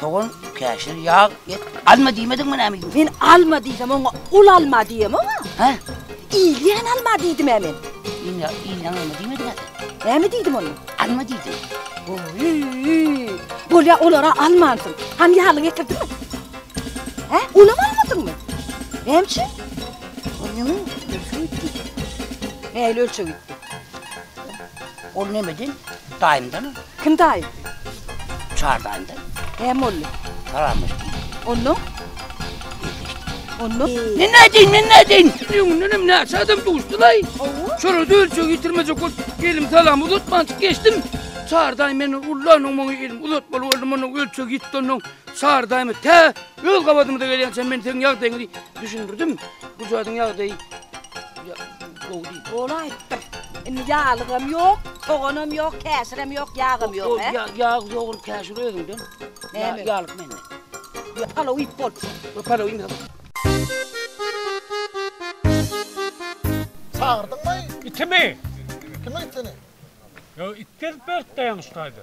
Sogan, käşir, ýag, et. Alma diýmediňmi näme? Men alma diýsem oňa ul alma diýem oňa. Hä? Ilýän alma diýdim-ä men. Ilýä, ilýän alma diýmediň-ä sen. Näme diýdim onda? Alma diýdim. Oýýý. Bolýa olara almansyň. Hany ýaly getirdiňmi? Hä? Olam almadyňmy? Näme üçin? Ol ýaňy ölçeg ýitdi. Nähili ölçeg ýitdi? Ol nemeden? Daýymdan. Kim daýym? Çar daýymdan. Näme boldy? Salamlaşdyk. Ondan? Ondan? Ne nädin, ne nädin? Düňünden hem näçe adam duşdulaý. Şolar dölçe getirmejek bol. Elim salam uzatman çyk geçdim. Çar daýym meni ullanuň muňy elim uzatmaly boldum. Munuň ölçegi ýitdi ondan. Çar daýymy tä Öz gabadymyza gelýänçä men seň ýagdaýyňy düşündirdim. Bu jadyň ýagdaýy gowy diýdi. Ol aýtdyr. Indi ýalygam ýok, soganam ýok, käşirem ýok, ýagam ýok. Ol ýag, ýag ýogul käşir özüňden. Näme? Ýalyk menden. Ýa palaw iýip bolupsyň. Ýa palaw iýmesem. Çagyrdyňmy? Itimi? Kime itini? Ýa it gelip beripdi ýaňyşdaýda.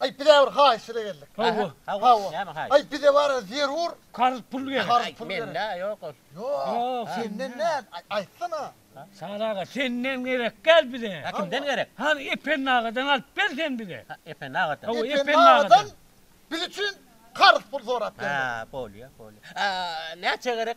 Aý bize bir haýyş ile geldik. Hawa. Hawa. Näme haýyş? Aý bize bara zerur. Karz pul gerek. Karz pul gerek. Mende ýok ol. Ýok. Senden näl? Aýtsana. Sara aga senden gerek däl bize. Kimden gerek? Hany Ependi agadan alyp ber sen bize. Ependi agadan. Hawa Ependi agadan. Biz üçin karz pul sorap geldi. Bolýa, bolýa. Näçe gerek?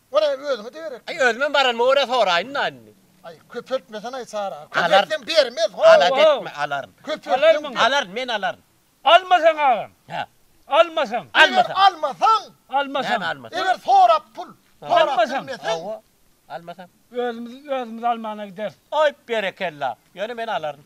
Boraý özüňe degerek. Aý özümem baranma görä soraýynda indi. Aý köpeltmesanaý çara. Köpeltsem bermez ho. Alat etme alaryn. Köpeltseň alaryn men alaryn. Almasaň agam. Hä. Almasaň. Eger almasaň. Almasaň. Näme almasaň. Eger sorap pul. Almasaň. Hawa. Almasaň. Özümiz özümiz almana gideris. Aý berekella. Ýöne men alaryn.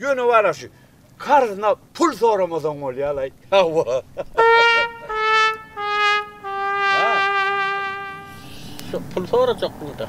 Ýöne wala şu karzyna pul soramasaň bolýalaý. Hawa. Pul sorajak bunda.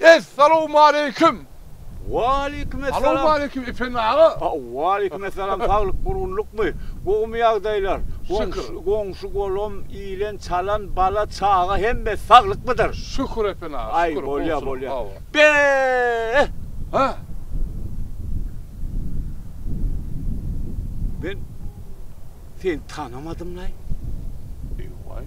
Es salowmaleýkim! Waleýkim es salam! Alowmaleýkim Ependi aga! Waleýkim es salam! Saglyk durgunlykmy? Gowymy ýagdaýlar? Şükür! Goňşy golum, ilen, çalan, bala, çaga hemme saglykmydyr? Şükür Ependi aga! Aý bolýa bolýa! Be-e! Hä? Men seni tanamadymlaý! Eý waý!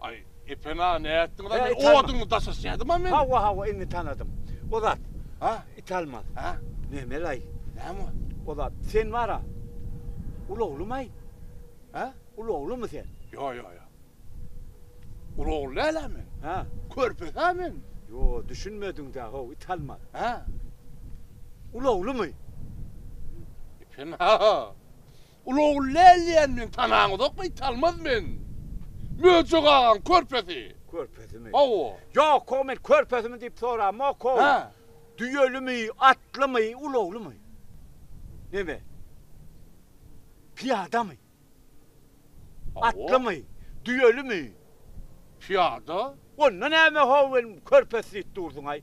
Aý, epena, nätdiňiz-ä, Hä, men it alma. oduňy daşaşýadym-a men. Hawa, hawa, indi tanadym. O zat, A? it almaz. Hä? Memel-aý, Näme o? o zat, sen bar-a, ulaglymy-aý? Hä? Ulaglymy sen? Ýo, ýo, ýo. Ulagly däl-ä men. Hä? Körpes-ä men. Ýo, düşünmediň-dä, how, it almaz. Hä? Ulaglymy? Epena, Uly ogul Läl diýen men tanaňyzokmy italmaz men. Möjek agaň körpesi. Körpesimi? Hawa. Ýokog men körpesimi diýip soramokog. Hä. Düýelimi, atlymy, uly oglumy? Neme? Pyýadamy? Hawa. Atlymy? Düýelimi? Pyýada. Onda näme how men körpesi diýip dursuňaý?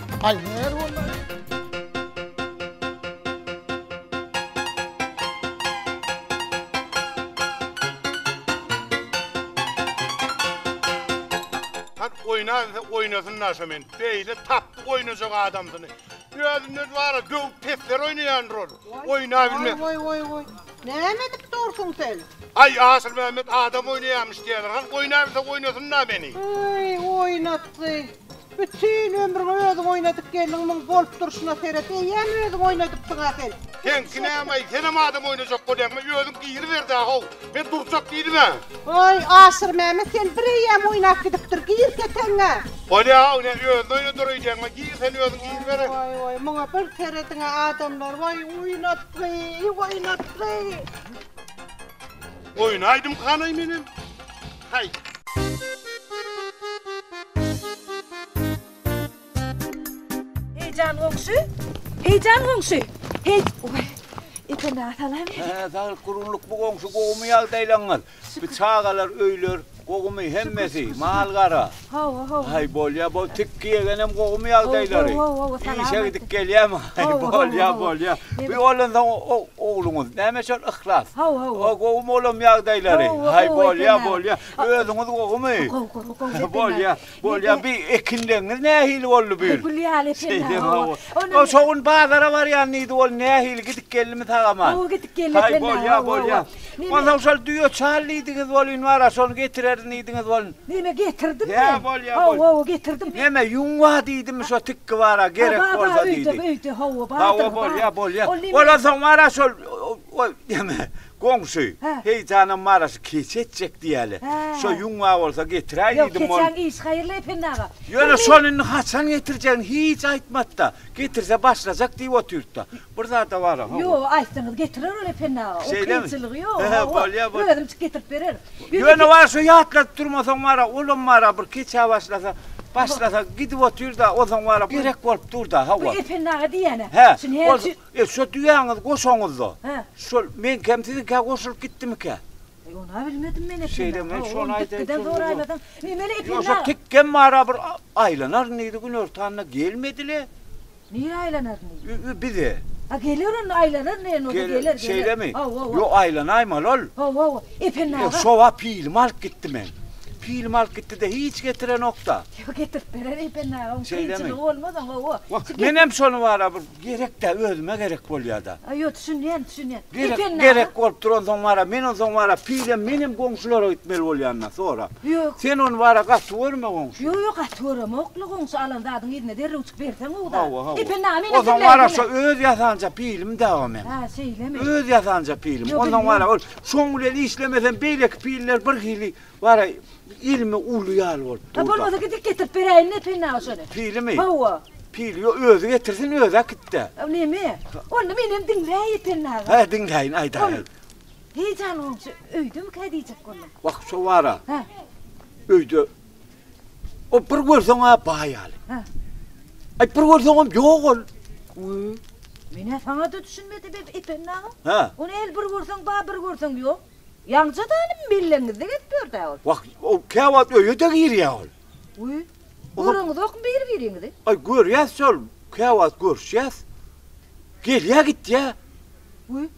Ay her olay. oýnasa oýnasyn naşa men. Beýle tapdy oýnajak adamdyny. Özünden bar, göw pesler oýnaýandyr ol. Oýna bilme. Oý oý oý. Näme edip dursuň sen? Ay Asyl Mehmet adam oýnaýarmyş diýerler. Han oýna bilse oýnasyn da meni. Oý oýnatdy. Bütin ömrüňi özüň oýnadyp geldiň muň bolup durşuna seret eýýäm özüň oýnadypsyňa sen. Seňki nämeý senem adam oýnajak bolýaňmy özüň giriberda how men durjak diýdimä. Hoý Aşyr Mämet sen bir eýýäm oýnap gidipdir gir keteňňä. Bolýa how ne özün oýnadar öýdýäňmi gir sen özüň giribere. Woý woý muňa bir serediňä adamlar woý oýnatgy oýnatgy. Oýnaýdymkanaý menem. Haý! Heý jan goňşy! Heý jan goňşy! Heý! Oý! Ýeke nä salam? Hä, saglyk gurgunlyk bu goňşy gowumy ýagdaýlaňyz? Bu çagalar öýler gowumy hemmesi, mal-gara? Hawa, hawa. Haý, bolýa, bol, tikgi ýegenem gowumy ýagdaýlary? Gowy, gowy, gowy, salam. Işe gidip gelýämi? Haý, bolýa, bolýa. Bu bolansoň ogluňyz, näme şol Yhlas? Hawa, hawa. O gowumy olam ýagdaýlary? Haý, bolýa, bolýa. Özüňiz gowumy? Gowy, gowy, gowy. Bolýa, bolýa. Bu ekinleriňiz nähili boldy bu ýyl? Gül ýaly ekinler. Hawa. Şo gün bazara barýan diýdi, ol nähili gidip geldimi sag-aman? Gowy gidip geldi. Haý, bolýa, bolýa. Onsoň şol düýe çal diýdiňiz welin bar-a, şony getirerin diýdiňiz welin. Neme getirdim men? Hä, bolýa, bolýa. Hawa, getirdim. Neme, ýuňwa diýdimi şo tikgi bara, gerek bolsa diýdi. Hawa, bar, öýde, öýde, hawa, bardyr. Hawa, bolýa, bolýa. Ondan soň bar-a şol, oý, neme, goňşy, Heýjanam bar-a şu keç etjek diýeli. Şo ýuňwa bolsa getiräý diýdim. Ýok, keçäň işi haýyrly, Ependi aga. Ýöne şony indi haçan getirjegini hiç aýtmady-da. Getirse başlajak diýip otyrdy-da. Bir zada bar aha. Ýo, aýtsaňyz getirer ol Ependi aga. Ol kynçylygy ýok. He, bolýa bol. Özümçik getirip berer. Ýöne bar şo ýatladyp durmasaň bara, olam bara bir keçä başlasa, başlasa gidip otyrda, onsoň bara gerek bolup durda hawa. Bu Ependi aga diýýän-ä. He. Şuny her üçi. E, şo düýäňizi goşaňyzda. He. Şol meňkem siziňkä goşulyp gitdimikä? Eý, ony-a bilmedim men Ependi aga. Şeýle men şony aýdaýyn. Dikgiden soraýmasaň. Emeli Ependi aga. Ýo, şo tikgem bara bir aýlanaryn diýdi, günortanda gelmedi-le. Nirä aýlanar indi? Ü-ü bize. A geler onda aýlanar indi ýene oda geler geler. Şeýlemi? Hawa-wa. Ýok aýlanaýmaly ol. Hawa-wa. Efendi aga. Şowa pilimi alyp gitdi men. Pilimi alyp gitdi-de hiç getirenok-da. Ýok getirip berer Efendi aga oň kynçylygy bolmaz oň hawa. Wah menem şony wara bir gerek-dä özüme gerek bolýa-da. A ýok düşünýän düşünýän. Efendi aga. Gerek gerek bolup duransoň wara men onsoň wara pilem menem goňşulara gitmeli bolýan-da sorap. Ýok. Sen ony bara gaty görme goňşy. Ýok, ýok, gaty göremokly goňşy, alan zadyňy yzyna derrewjik berseň gowy-da. Hawa, hawa. Epe, name meniň Onsoň gürlejime? wara şo öz ýasanja pilim dawa meň. Hä, şeýlemi? Öz ýasanja pilim. Ýok, Onsoň bilýän. wara ol şoň bilen işlemesem beýleki piller bir hili wara ilmi uly ýaly bolup Ha, dur-da. bolmasa gidip getirip beräýin Epe name şony. Pilimi? Hawa. Pili ýok, özi getirsin, özi äkit-de. Neme? Onda menem diňläý Epe name. Hä, diňläýin, aýdaý, Ol aýt. Heý janyň öýdemikä diýjek boldum. Wah şo wara. Hä. Öýde. O bir görseň-ä baý ýaly. Hä. Aý bir görseňem ýok ol. Uý. Men-ä saňa-da düşünmedim Ependi aga. Hä. Ony el bir görseň bar, bir görseň ýok. Ýaňja-da ony belleňizde gezip ýör-dä ol. Wah, ol käwagt öýe-de girýä ol. Uý. Göreniňizokmy bir-biriňizi? Aý, görýäs şol, käwagt görüşýäs. Gelýär, gitýär. Wü,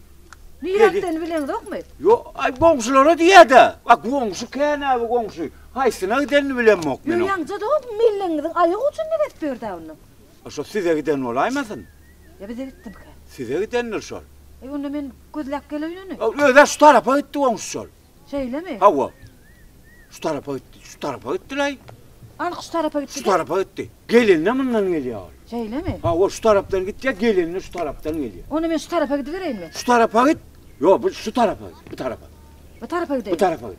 nire gitdenini bileniňizokmy? Ýo, aý, goňşulara diýýär-dä. A goňşy känäbi goňşy. Haýsyna gidenini bilemok men oň. Ýo, ýaňjada o mellegiňiziň aýagy uçunda gezip ýör-dä onda. A şo size giden bolaýmasyn? Ýa bize gitdimikä? Size gidendir şol. Aý, onda men gözläp geleýin ony. Özi-ä şu tarapa gitdi goňşy şol. Şeýlemi? Hawa. Şu tarapa gitdi. Şu tarapa gitdilaý. Anyk şu tarapa gitdi. Şu tarapa gitdi. Gelende mundan gelýär ol. Şeýlemi? Hawa, şu tarapdan gitýär, gelende şu tarapdan gelýär. Onda men şu tarapa gidibereýinmi? Şu tarapa git. Ýok, bu şu tarapa git. Bu tarapa. Bu tarapa gideýin. Bu tarapa git.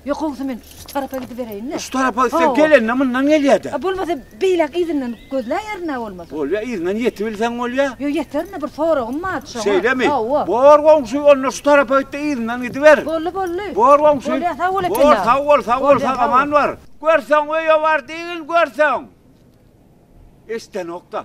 Ýok, howsy men şu tarapa gidibereýin-le. Şu tarapa gitseň, gelende mundan gelýär-de. Bolmasa Beýläk yzyndan gözläýerin-ä bolmasa. Bolýa, yzyndan ýetibilseň bolýa. Ýo, ýeterin-de, bir soragym bardy şoňa. Şeýlemi? Hawa. Bor goňşy, onda şu tarapa git-de, yzyndan gidiber. Boldy, boldy. Bor goňşy. Bolýa, sag bol ekeni. Bor, sag bol, sag bol, sag-aman bar. Görseň, öýe bar diýgin, görseň. Eşidenok-da.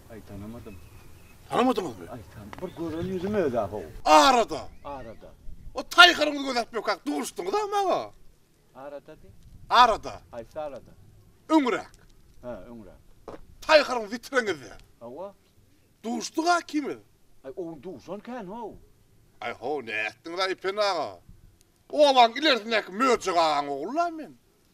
Aý tanamadym. Tanamadyňyzmy? Aý tan. Bir gören ýüzüm öz-ä how. Arada. Arada. O taýharyňyzy gözläp ýokak duşdyňyz-a maňa. Arada diý. Arada. Haýsy arada? Öňräk. Hä, öňräk. Taýharyň witreňizde. Hawa. Duşduk-a ikimiz. Aý o gün duşan kän how. Aý how nätdiňiz-a Epen aga. Obaň ilerisindäki Möjek agaň ogly-la men.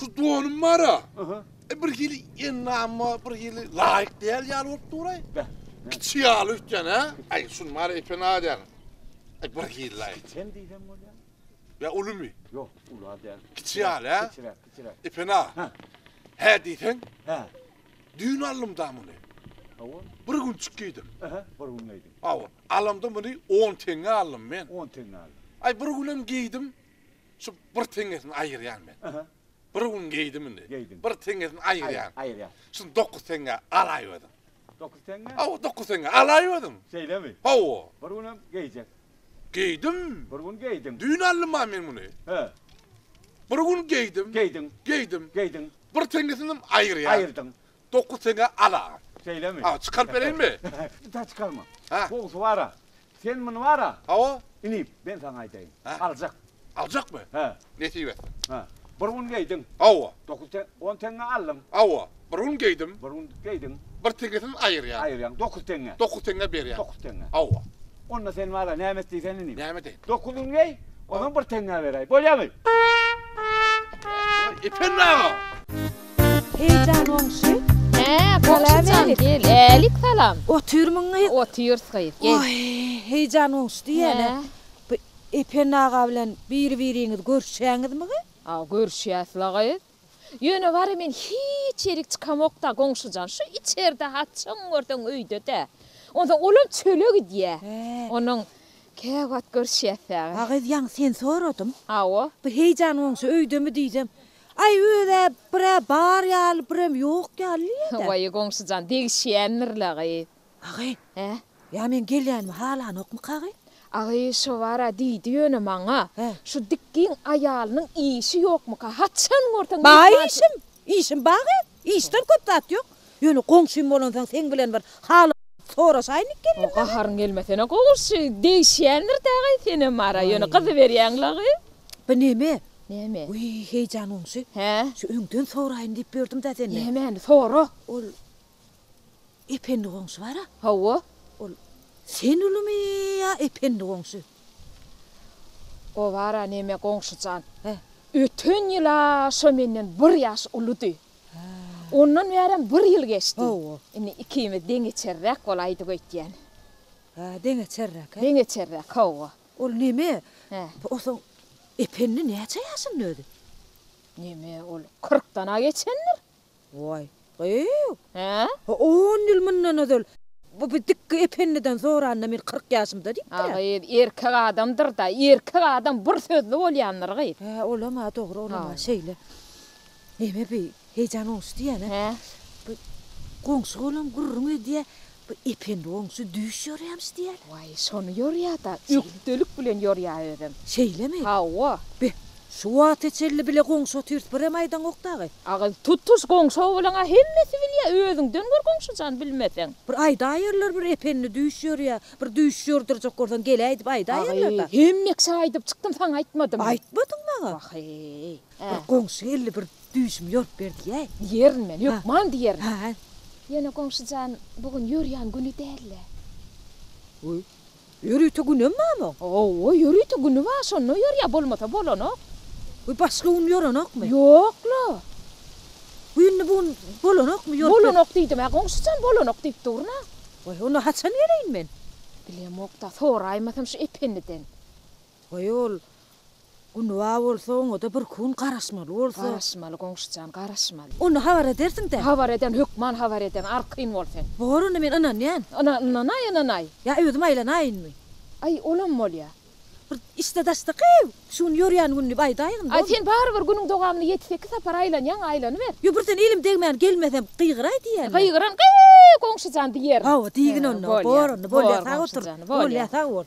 Şu donum bara. Aha. E bir hili ennama bir hili laýyk däl ýaly bolup duray. Beh. Kiçi ýaly ötýän ha. Ay şun mara epen adyan. Ay bir hili laýyk. Sen diýsem bolýa. Ya ulumy? Yok ula däl. Kiçi ýaly ha. Kiçiräk, kiçiräk. Epen a. Ha. Hä diýseň. Hä. Düýn aldym da muny. Awa. Bir gün çykýdym. Aha, bir gün geýdim. Awa. Alamda muny 10 teňňe aldym men. 10 teňňe aldym. Ay bir günem geýdim. Şu bir teňňesini aýyrýan men. Bir gün geýdim indi. Bir teňňesini aýyrýan. Aýyrýan. Şuny dokuz teňňä alaý özüň. Dokuz teňňä? Hawa, dokuz teňňä alaý özüň. Şeýlemi? Hawa. Bir gün hem geýjek. Geýdim. Bir gün geýdim. Düýn aldym ha men muny. He. Bir gün geýdim. Geýdiň. Geýdim. Geýdiň. Bir teňňesini hem aýyrýan. Aýyrdyň. Dokuz teňe al-a. Şeýlemi? Ha, çykaryp bereýinmi? Ýa çykarma. Hä? Gowusy bar-a, sen muny bar-a. Hawa. Inip, men saňa aýdaýyn. Hä? Aljak. Aljakmy? Hä. Nesip etsin. Hä. Bir gün geýdiň. Hawa. Dokuz te, on teňe aldyň. Hawa. Bir gün geýdim. Bir gün geýdiň. Bir teňesini aýyrýan. Aýyrýaň. Dokuz teňe. Dokuz teňe berýän. Dokuz teňe. Hawa. Onda sen bar-a, näme et diýsen inip. Näme edeýin? Dokuz gün geý, ondan bir teňe beräý. Bolýamy? Ependi aga! Heýjan goňşy. Hä, goňşy jan, gel. Älik salam. Otyrmyň gyz? Otyrys gyz, gel. Oý, Heýjan goňşy diýýän-ä. Bu Ependi aga bilen biri-biriňiz görüşýäňizmigi? A, görüşýäs-la gyz. Ýöne wara men hiç ýerik çykamok-da, goňşy jan. Şu içerde haçan görseň öýde-dä. Onsoň olam çöle gidýä. Onuň käwagt görüşýäs-dä. A gyz, ýaňy seni soradym. Hawa. Bu Heýjan goňşy öýdemi diýsem, Aý öz-ä bir-ä bar ýaly, birem ýok ýaly nirede? Waý, goňşujan, degişýändir-le, gyz. Agy? Hä? Ýa meň gelýänimi halanokmyka, gyz? Agy, şo bar-a diýdi ýöne maňa, şu dik giň aýalynyň işi ýokmyka, haçan görseň mehmançy. Bar işim, işim bar, gyz. Işden köp zat ýok. Ýöne goňşym bolansoň seň bilen bir hal soraşaýynyk geldim maňa. Gaharyň gelmesene goňşy degişýändir dagay senem mara ýöne gyzy berýäň lagy. By neme? Neme? Wiý heýjan goňşy. Hä? Şu öňden soraýyn diýip ýördüm da senden. Nämeni? Sora. Ol Ependi goňşy bara. Hawa. Ol sen ulymy ýa Ependi goňşy? O bara neme goňşy jan. Hä? Öten ýyla şo menden bir ýaş ulydy. Ondan bärem bir ýyl geçdi. Indi ikimiz deňeçerräk bolaýdyk öýtýän. Hä, deňeçerräk-ä? Deňeçerräk, hawa. Ol neme, o soň Ependi näçe ýaşynda özi? Neme, ol kyrkdan-a geçendir. Waý, gyýw. Hä? On ýyl mundan ozal bu bir dikgi Ependiden soranda men kyrk ýaşymda diýipdir-ä. A gyz, erkek adamdyr-da, erkek adam bir sözli bolýandyr, gyz. Hä, olam-a dogry, olam-a şeýle. Neme bi hejan oňşy diýene. He. Bu goňşy golam gürrüň edýä. Bu ependi goňşy düýş ýorýamyş diýäl. Waý, şony ýorýada. Ökdelik bilen ýorýa özem. Şeýlemi? Hawa. Be, şu wagta çenli bile goňşy otyrs birem aýdaňok dagy. Agyz tutuş goňşy oglana hemmesi bilýä, özüňden gör goňşy jan bilmeseň. Bir aýdaýerler bir ependi düýş ýorýa, bir düýş ýordurjak bolsaň geläý diýip aýdaýerler da. Agyz, hemmeksi aýdyp çykdym saňa aýtmadym. Aýtmadyň maňa. Waheý. Bir goňşy geldi, bir düýşümi ýorup ber diýäý. Diýerin men, hökman diýerin. Hä. Ýene goňşy jan, bu gün ýörýän güni däl-le. Öý, ýörite günem barmy oň? Hawa, ýörite güni bar, şonda ýörýär, bolmasa bolanok. Öý, başga gün ýörenokmy? Ýok-la. Bu indi bu gün bolanokmy, ýorup ber. Bolanok diýdim-ä, goňşy jan, bolanok diýip durun-a. Öý, onda haçan geleýin men? Bilemok-da, soraýmasam şu Ependiden. Goý ol Günba bolsa oňada bir kun garaşmaly bolsa. Garaşmaly goňşujan garaşmaly. Onda habar edersiňdä. Habar ederin hökman habar ederin arkaýyn bol sen. Bor onda men ynanýan. Ynan ynanaý ynanaý. Ýa özüm aýlanaýynmy. Aý olam bolýa. Bir işde daşda gyýw. Şu gün ýörýän gün diýip aýdaýyn bolmy. Aý sen barybir günüň dowamynda ýedi sekiz sapar aýlanýaň aýlanyber. Ýo birden elim degmän gelmesem gygyraý diýýänmi. Gygyran gyýw goňşujan diýerin. Hawa diýgin onda. Bor onda bolýa sag otur. Bolýa sag bol.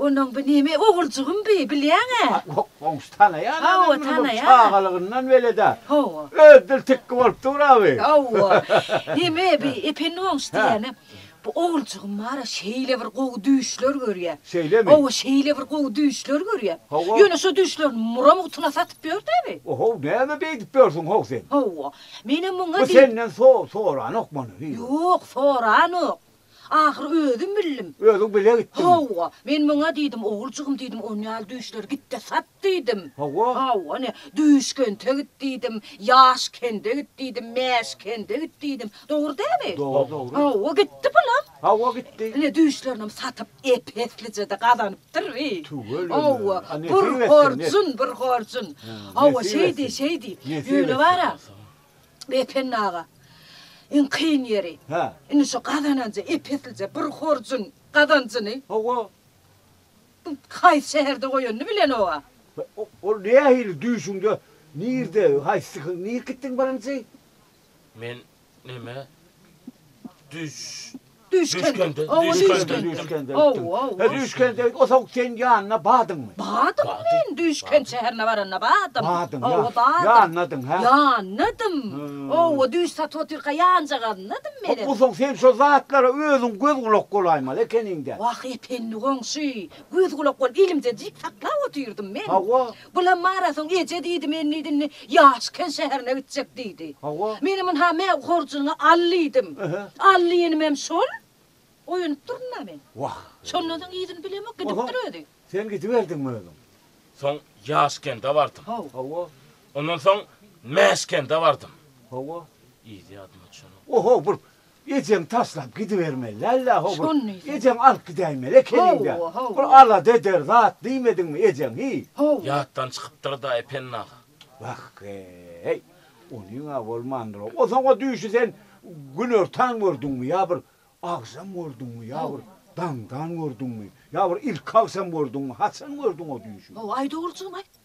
Onuň bu neme oguljygym bi, bilýäň-ä? Ýok, goňşy tanaýan-a men muny, bu çagalygyndan bele-dä. Hawa. Öz dil tikgi bolup dur-a bi. Hawa. Neme bi, Ependi goňşy diýýänem, bu oguljygym bar-a, şeýle bir gowy düýşler görýär. Şeýlemi? Hawa, şeýle bir gowy düýşler görýär. Hawa. Ýöne şo düýşlerini mura mugtuna satyp ýör-dä bi. O-how, näme beýdip ýörsüň ho sen? Hawa. Menem muňa diýip. Bu senden so-soranok muny? Ýok, soranok. Ahyry özüm bildim. Özüň bile gitdiňmi? Hawa. Men muňa diýdim, Oguljygym diýdim, on ýaly düýşleri git-de sat diýdim. Hawa? Hawa, ine, düýş kente git diýdim, ýaş kende git diýdim, mäş kende git diýdim. Dogry dämi? Dogry, dogry. Hawa, gitdi pulam. Hawa, gitdi. Ine, düýşlerinem satyp, ep-eslije-de gazanypdyr bi. Tüweleme. Hawa, bir horjun, bir horjun. Hawa, şeýdi, şeýdi. Ýöne bar-a, Ependi aga, iň kyn ýeri, indi şu gazananja ep-eslije bir horjuň gazanjyny Hawa. haýsy şäherde goýanyny bilenok-a. Ol nähili düýşüňde, nirde, haýsy syhyň, nirk gitdiň birinji? Men neme, düýş Düýşkende. Düýşkende, düýşkende gitdim. He, düýşkende git, o soň seň ýanyna badyňmy? Badym men, düýşkent şäherine baranda badym. Badyň, ýa. Owa, badym. Ýanladyň, hä? Ýanladym. Owa, düýş satyp otyrka ýanjagazladym menem. Bu soň sen şo zatlara özüň göz-gulak bolaýmaly ekeniň-dä. Wah, Ependi goňşy, göz-gulak bolup elimde jik saklap otyrdym men. Hawa. Bulam marasoň eje diýdi men diýdim ne ýaşken şäherine gitjek diýdi. Hawa. Menem ynha mä horjunyňy al diýdim. Al diýenimem şol. Oýanyp durdum da men. Wah. Şondan soň yzyny bilemok gidipdir özi. Sen gidiberdiňmi özüň? Soň ýaşkende bardym. Haw. Hawa. Ondan soň mäşkende bardym. Hawa. Yzy ýadyma düşenok. Oho bir Ejeň taşlap gidibermeli däl-dä, ho bir ejeň alyp gidäýmeli ekeniň-dä. Bir alada eder zat diýmediňmi ejeň, hi? Ýatdan çykypdyr-da, Ependi aga. Wah-eý, onyň-a bolmandyr-a. O soňa düýşi sen günortan gördüňmi ýa bir agşam gördüňmi ýa bir daňdan gördüňmi ýa bir ilki agşam gördüňmi, haçan gördüň o düýşi? Ho-aý, dogrujygym-aý.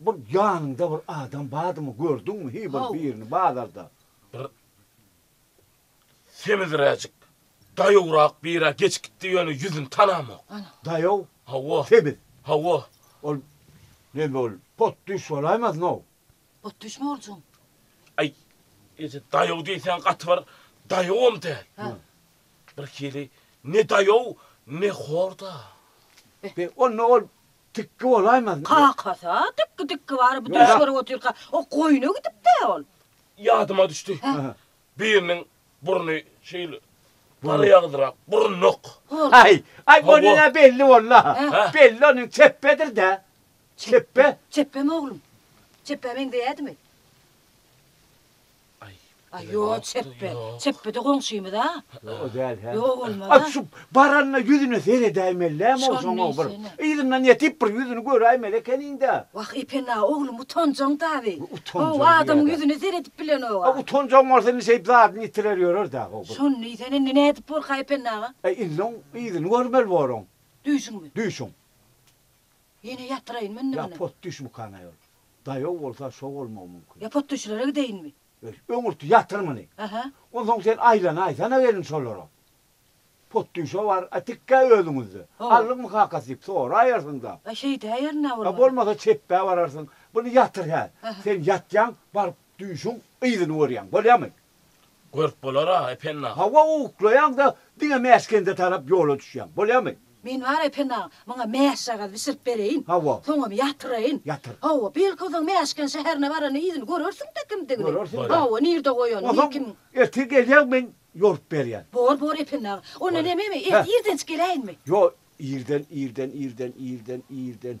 Bir ýanyňda bir adam bardymy gördüňmi hiý bir birini bazarda. Bir sebizräjik daýawrak birä geçip gitdi ýöne ýüzüni tanamok. Daýaw? Hawa. Sebiz? Hawa. Ol neme ol potdüş bolaýmaznow. Potdüşmi oljam? Aý eje daýaw diýseň gaty bir daýawam däl. Hä. Bir hili ne daýaw ne horda. Onda ol Tikgi bolaýmaz. Kakasy-a tikgi tikgi bary bu düýş görüp otyrka o goýna gidipd-ä ol. Ýadyma düşdi. Biriniň burny şeýle garaýagyzrak, burunlyk. Aý, aý onuň-a belli boldy-a. Belli onuň çepbedir-dä. Çepbe. Çepbemi oglum? Çepbä meňzeýädimi? Aý, ýok, çepbe. Çepbe-de goňşymyz-a. O däl, hä? Ýok, bolmaz-a. Aý, şu baranyna ýüzüne seredäýmeli-dämi ol şoň o bir. Yzyndan ýetip bir ýüzüni göräýmeli ekeniň-dä. Wah, Epene-a, oglum utanjaň-da-wi. How, adamyň ýüzüne seredip bilenok-a. A utanjaň bolsa indi şeýdip zadyny ýitirer ýörer däl how bir. Şony diýsene, indi nädip borka Epene aga? Aý, indi oň yzyny görmeli bor oň. Düýşüňmi? Düýşüň. Ýene ýatyraýyn mende Ya potdüş mukan aýol. Daýaw bolsa şo bolmagy mumkin. Ya potdüşlere gideýinmi? Öý, öňürti ýatyr muny. Aha. Onsoň sen aýlanaýsana welin şolara. Potdüşe bar, a tikkä özüňizde. Ho. Allykmy kakasy diýip soraýarsyň-da. A şeýdäýerin-ä bolmasa. A bolmasa çepbä bararsyň. Buny ýatyr häl. Aha. Sen ýatýaň, baryp düýşüň yzyny görýäň. Bolýamy? Görüp bolar-a, Ependi aga. Hawa, uklaýaň-da, diňe Mäskende tarap ýola düşýäň. Bolýamy? Men bar, Ependi aga, muňa mäşjagaz bişirip bereýin. Hawa. Soňam ýatyraýyn. Ýatyr. Hawa, belki, o zaman Mäşken şäherine baranda yzyny görersiň-de kimdigini. Görersiň-dä. Hawa, nirde goýanyny, kim. Onsoň ertir gelýäň, men ýorup berýän. Bor, bor, Ependi aga. Onda näme, men ertir irdenjik geläýinmi? Ýok, irden, irden, irden, irden, irden.